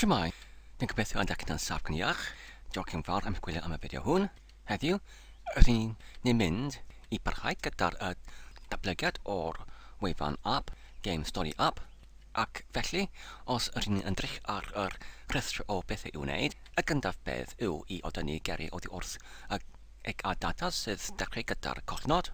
Shwmae, dwi'n gobeithio y dach chi'n saff gan iach. Diolch yn fawr am gwylio am y fideo hwn. Heddiw, rydyn ni'n mynd i barhau gyda'r y datblygiad o'r wefan app, Game Story App, ac felly, os ydyn ni'n ymdrych ar yr rhestr o bethau i'w wneud, y gyntaf beth yw i odynnu geri oddi wrth y eg a data sydd dechrau gyda'r cofnod.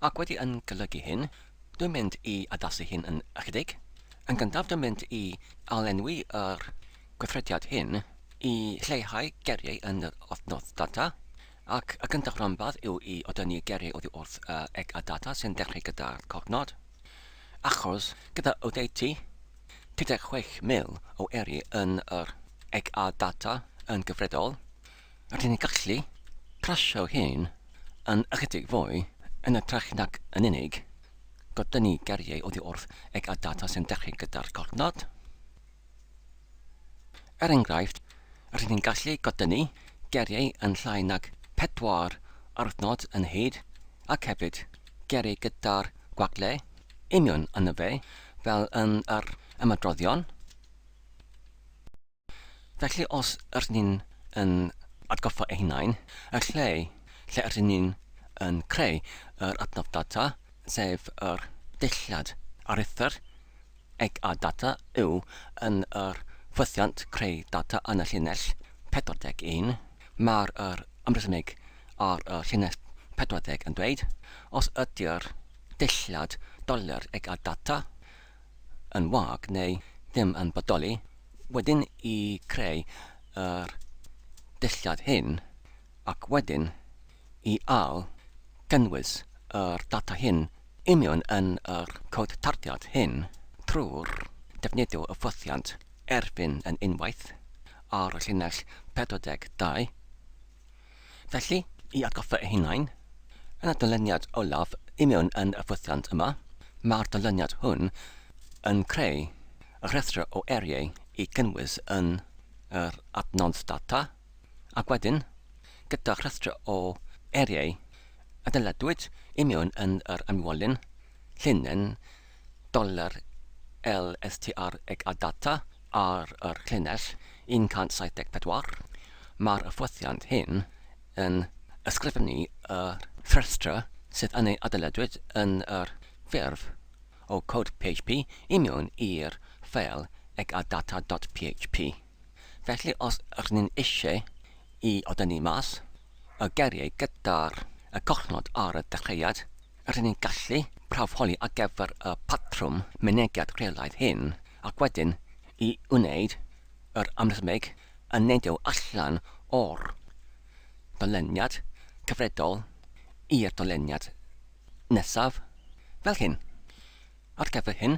Ac wedi yn golygu hyn, dwi'n mynd i addasu hyn yn ychydig, Yn gyntaf dim ond i ail-lenwi yr gweithrediad hyn i leihau geiriau yn yr adnodd data, ac y gyntaf ranbarth yw i odynnu geiriau oddi wrth y eg a data sy'n dechrau gyda'r cofnod. Achos, gyda oddeutu 36,000 o eiriau yn yr eg a data yn gyfredol, Rydyn ni'n gallu plasio hyn yn ychydig fwy yn ytrach nag yn unig godynnu geiriau oddi wrth eg a data sy'n dechrau gyda'r cofnod. Er enghraifft, rydyn ni'n gallu godynnu geiriau yn llai nag pedwar aruthnod yn hyd ac hefyd geiriau gyda'r gwagle union yno fe fel yn yr ymadroddion. Felly os ydyn ni yn atgoffa ein hunain y lle lle ydyn ni yn creu yr adnodd data, sef yr dulliad aruthr eg a data yw yn yr ffwythiant creu data yn y llinell 41, mae'r yr ymresymig ar y llinell 40 yn dweud os ydy'r dulliad dolur eg a data yn wag neu ddim yn bodoli, wedyn i creu yr dulliau hyn ac wedyn i ail gynnwys yr data hyn i mewn yn yr cod tarddiad hyn trwy'r defnyddio y ffwythiant erfyn yn unwaith ar y llinell 42. Felly, i atgoffa eich hunain, yn y dyluniad olaf i mewn yn y ffwythiant yma, mae'r dyluniad hwn yn creu rhestr o eriau i gynnwys yn yr adnodd data, ac wedyn, gyda rhestr o eriau y dyledwyd i mewn yn yr ymwolyn, llinyn, dollar LSTR ag a data ar yr llinell 174, mae'r hyfforddiant hyn yn ysgrifennu y rhestrau sydd yn ei adeiladwyd yn yr ffurf o cod PHP i mewn i'r ffeil ag a data dot PHP. Felly os rŷn ni'n eisiau i o dynnu mas y geiriau gyda'r y collnod ar y dechreuad, Rydyn ni'n gallu prawfholi ar gyfer y patrwm mynegiad rheolaidd hyn ac wedyn i wneud yr amrhymig yn neidio allan o'r doleniad cyfredol i'r doleniad nesaf, fel hyn. Ar gyfer hyn,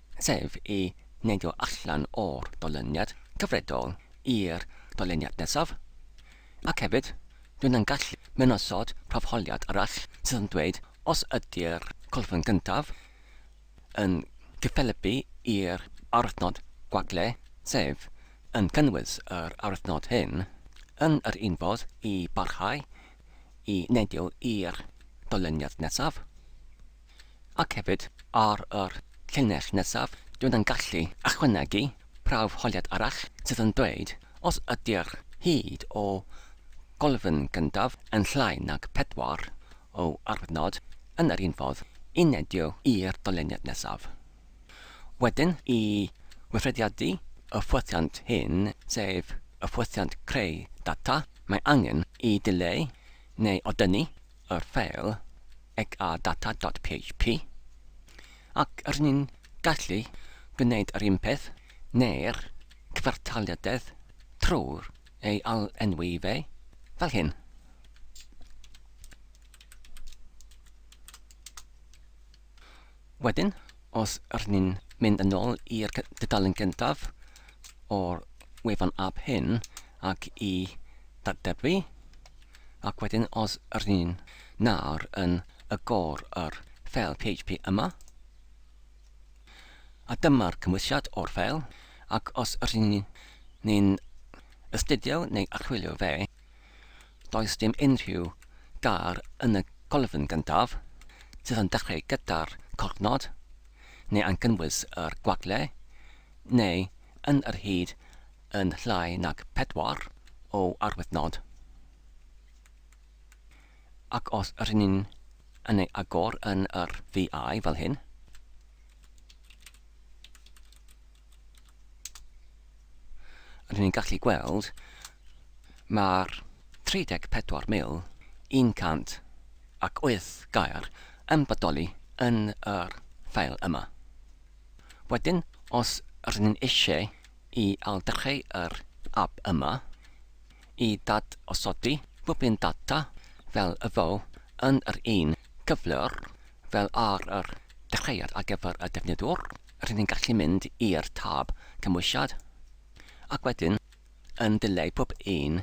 sef i neidio allan o'r dolyniad cyfredol i'r dolyniad nesaf, ac hefyd, dwi yn gallu mewn osod prawfholiad arall sydd yn dweud os ydy'r colofn gyntaf yn cyffelybu i'r arwythnod gwagle, sef yn cynnwys yr arwythnod hyn, yn yr un fodd i barhau i neidio i'r dolyniad nesaf. Ac hefyd, ar yr llinell nesaf, dwi yn gallu ychwanegu prawf holiad arall sydd yn dweud os ydy'r hyd o golofn gyntaf yn llai nag pedwar o arwyddnod yn yr un ffordd i nedio i'r dolyniad nesaf. Wedyn, i weithrediadu y ffwythiant hyn, sef y ffwythiant creu data, mae angen i dileu neu odynnu y ffeil ec a data.php ac rŷn ni'n gallu gwneud yr un peth neu'r cyfartaliadedd trwy ei ail-enwi fe fel hyn. Wedyn, os rŷn ni'n mynd yn ôl i'r dudalen gyntaf o'r wefan app hyn ac i ddatblygu, ac wedyn os rŷn ni'n nawr yn agor yr ffeil PHP yma, a dyma'r cymwysiad o'r ffeil, ac os rŷn ni'n astudio neu archwilio fe, Does dim unrhyw gar yn y colofn gyntaf, sydd yn dechrau gyda'r cornod, neu yn cynnwys yr gwagle, neu yn yr hyd yn llai nag pedwar o arwyddnod. Ac os rŷn ni'n yn ei agor yn yr VI fel hyn, Ond ni'n gallu gweld mae'r 34,108 gair yn bodoli yn yr ffeil yma. Wedyn, os rydyn ni'n eisiau i ailddechrau yr ab yma i ddadosodi bob un data fel y fo yn yr un cyflwr fel ar yr dechreuad ar gyfer y defnyddwr, rydyn ni'n gallu mynd i'r tab cymwysiad ac wedyn yn dileu pob un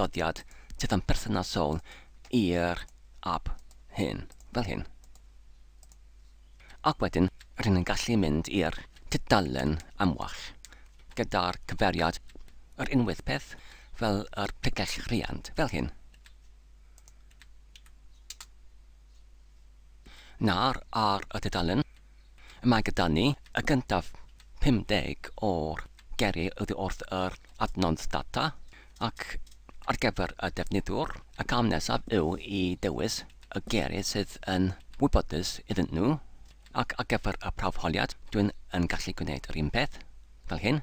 doddiad sydd yn berthnasol i'r ap hyn, fel hyn. Ac wedyn rydyn ni'n gallu mynd i'r tudalen amwell gyda'r cyfeiriad yr unwaith peth fel yr pregell rhiant, fel hyn. na'r ar y dudalen. Mae gyda ni y gyntaf 50 o'r geri oddi wrth yr adnodd data ac ar gyfer y defnyddiwr, y cam nesaf yw i ddewis y geri sydd yn wybodus iddyn nhw, ac ar gyfer y prawf holiad dwi'n yn gallu gwneud yr un peth, fel hyn.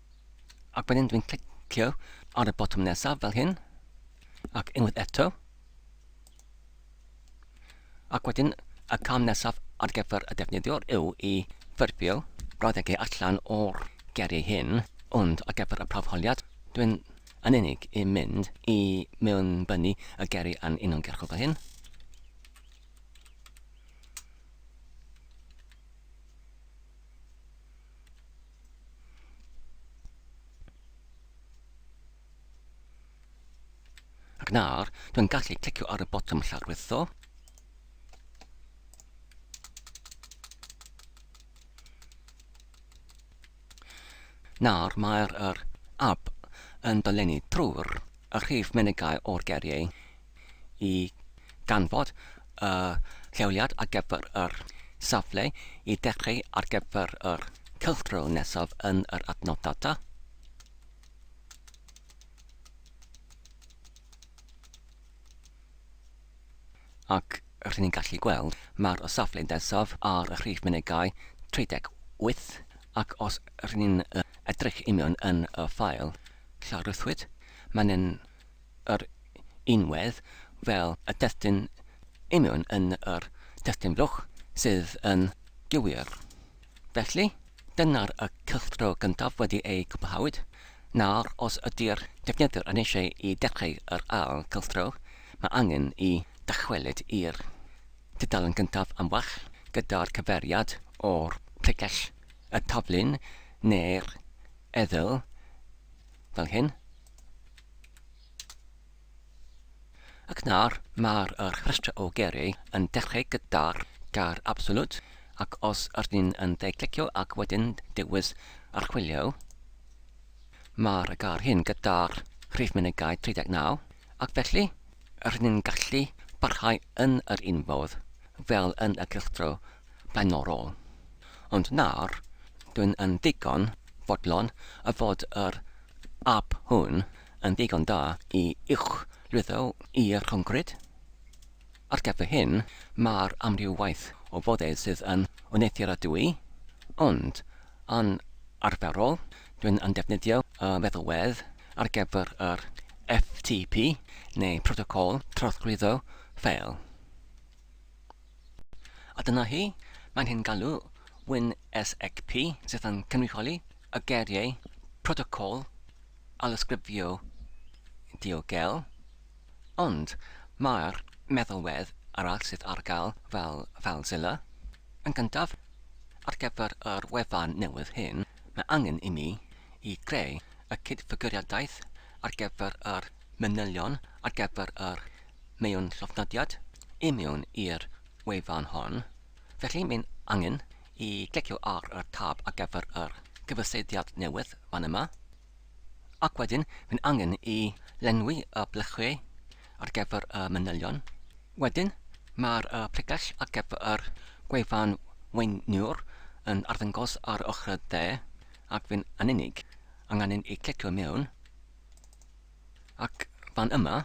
ac wedyn dwi'n clicio ar y botwm nesaf fel hyn ac unwaith eto ac wedyn y cam nesaf ar gyfer y defnyddiwr yw i ffurfio brawddegau allan o'r geriau hyn ond ar gyfer y prawfholiad dwi'n yn unig i mynd i mewn bynu y geri yn uniongyrchol fel hyn Ac nawr, dwi'n gallu clicio ar y botwm llawrlwytho. Nawr, mae'r er, ab yn dolenni trwy'r y rhif menygau o'r geriau i ganfod y lleoliad ar gyfer yr safle i dechreu ar gyfer yr cylchdro nesaf yn yr adnodd data. Ac rydyn ni'n gallu gweld mae'r y safle nesaf ar y rhif mynegai 38 ac os rydyn ni'n edrych i mewn yn y ffael llaruthwyd, mae'n yr unwedd fel y testun union yn yr testun fluch sydd yn gywir. Felly, dyna'r y cylchdro gyntaf wedi ei gwblhawyd, nawr os ydy'r defnyddwr yn eisiau i dechrau yr ail gylchdro, mae angen i dychwelyd i'r dudalen gyntaf am wach gyda'r cyfeiriad o'r pregell, y taflun neu'r eddyl fel hyn. Ac nawr mae'r rhestr o geiriau yn dechrau gyda'r gair 'absolute' ac os ydyn ni'n yn dde clicio ac wedyn dewis 'archwilio' mae'r gair hyn gyda'r rhif mynegai 39 ac felly rydyn ni'n gallu parhau yn yr un modd fel yn y cylchdro blaenorol. Ond nawr, dwn yn ddigon fodlon y fod yr ap hwn yn ddigon da i uwchlwytho i'r concrid. Ar gyfer hyn, mae'r amryw waith o foddau sydd yn wneuthurradwy, ond yn arferol, dwn yn defnyddio y feddalwedd ar gyfer yr FTP, neu Protocol Trawsglwyddo Ffeil. A dyna hi, mae'n hen galw, Win SXP, sydd yn cynrychioli y geiriau protocol a lysgrifio diogel, ond mae'r meddalwedd arall sydd ar gael fel FileZilla. Yn gyntaf, ar gyfer yr wefan newydd hyn, mae angen i mi i greu y cydfiguriadaeth ar gyfer yr manylion ar gyfer yr mewn llofnodiad i mewn i'r wefan hon, felly mae'n angen i glicio ar y tab ar gyfer yr cyfyseidiad newydd fan yma, ac wedyn mae'n angen i lenwi y blychiau ar gyfer y manylion. Wedyn, mae'r pregell ar gyfer yr gwefan weiniwr yn arddangos ar yr ochr dde, ac fe'n angen i ni angen i ni glicio mewn. Ac fan yma,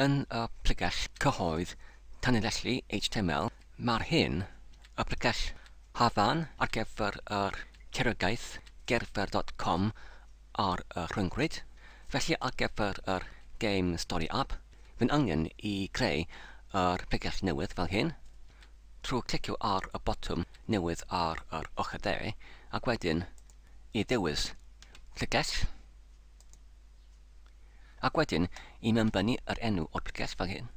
yn y pregell cyhoedd tanlinellu html, mae'r hyn y pregell Hafan ar gyfer yr Cerwriaeth Gerdded dot com ar y rhyngrwyd, felly ar gyfer yr Game Story App, fi'n angen i greu yr pregell newydd fel hyn, trwy clicio ar y botwm newydd ar yr ochr dde, ac wedyn i ddewis pregell. Ac wedyn i mewn bynnu yr enw o'r pregeth fel hyn.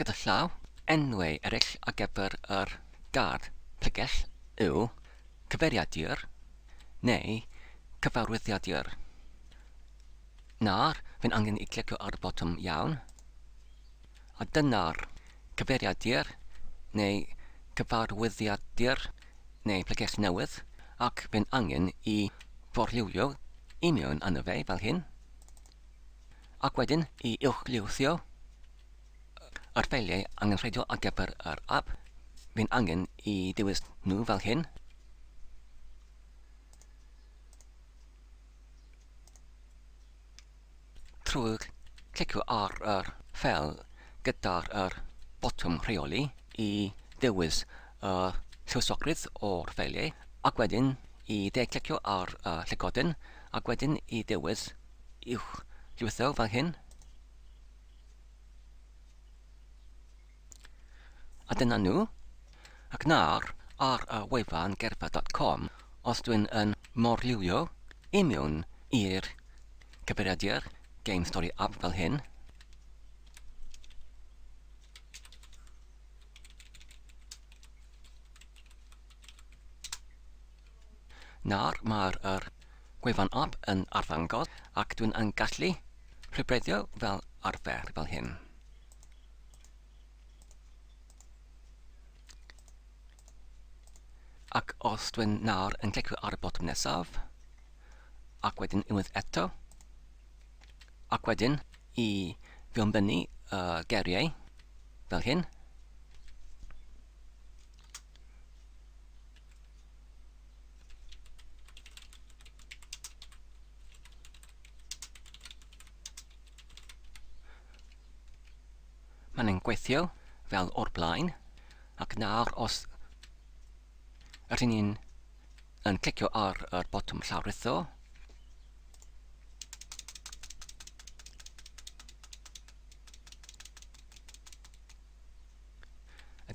Gyda llaw. Enwau eraill ar gyfer yr gardd pregeth yw cyfeiriadur neu cyfarwyddiadur. Nawr, fi'n angen i clicio ar y botwm iawn. A dyna'r cyfeiriadur, neu cyfarwyddiadur, neu bregeth newydd, ac fe'n angen i forliwio i mewn arno fe fel hyn, ac wedyn i uwchlywthio yr ffeiliau angenrheidiol ar gyfer yr app, fe'n angen i ddewis nhw fel hyn, Trwy glicio ar yr ffeil gydag yr botwm rheoli i ddewis y lluosogrydd o'r ffeiliau ac wedyn i dde-glicio ar y llygoden ac wedyn i ddewis Uwch Lwytho fel hyn. A dyna nhw. Ac nawr, ar y wefan gerddfa dot com, os dwi'n yn morlywio i mewn i'r cyfeiriadur Game Story App fel hyn, nawr mae'r yr gwefan app yn arddangos ac dwi'n yn gallu rhybreddio fel arfer fel hyn. Ac os dwi nawr yn clicio ar y botwm nesaf, ac wedyn unwaith eto, ac wedyn i fionbynnu y geriau fel hyn, Mae'n yn gweithio fel o'r blaen, ac nawr os ydyn ni'n yn clicio ar yr botwm llawrutho,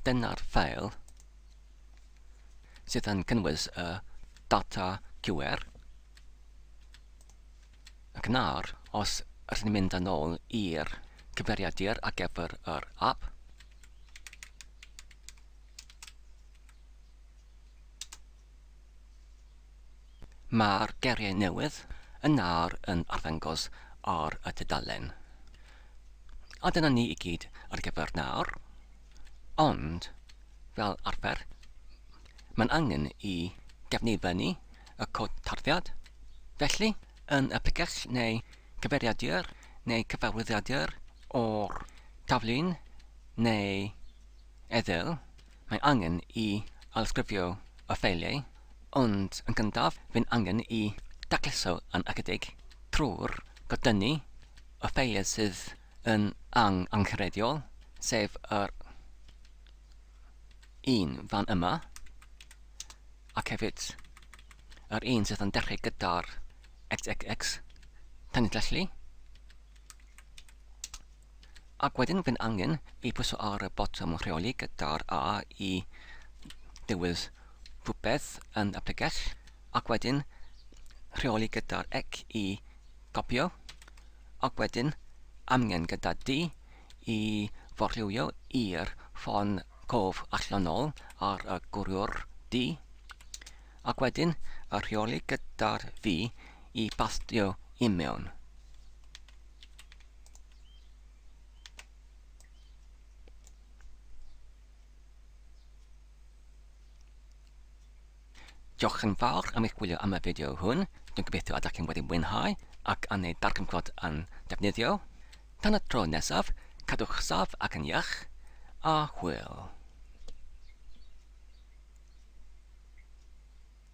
dyna'r ffeil sydd yn cynnwys y data QR. Ac nawr, os rydyn ni'n mynd yn ôl i'r cyfeiriadur ar gyfer yr app, mae'r geiriau newydd yn nawr yn arddangos ar y tudalen. A dyna ni i gyd ar gyfer nawr, ond fel arfer, mae'n angen i gefnifennu y cod tarddiad. Felly, yn y pregeth neu cyfeiriadur neu cyfarwyddiadur o'r taflun neu eddyl, mae angen i alysgrifio y ffeiliau, ond yn gyntaf fe'n angen i dacluso yn ychydig trwy'r godynnu y ffeiliau sydd yn angenrheidiol, sef yr un fan yma, Ac hefyd, yr un sydd yn dechrau gyda'r xxx, tan felly. Ac wedyn fi'n angen i pwyso ar y botwm rheoli gyda'r A i dewis rhywbeth yn y pregell, ac wedyn rheoli gyda'r ec i gopio, ac wedyn amgen gyda D i forlywio i'r ffon cof allan nol ar y gwriwr du, ac wedyn y rheoli gyda'r fi i bastio i mewn. Diolch yn fawr am eich gwylio am y fideo hwn, dwi'n gobeithio y dach chi'n wedi mwynhau ac am ei darganfod yn defnyddiol. Tan y tro nesaf, cadwch saff ac yn iach, a hwyl!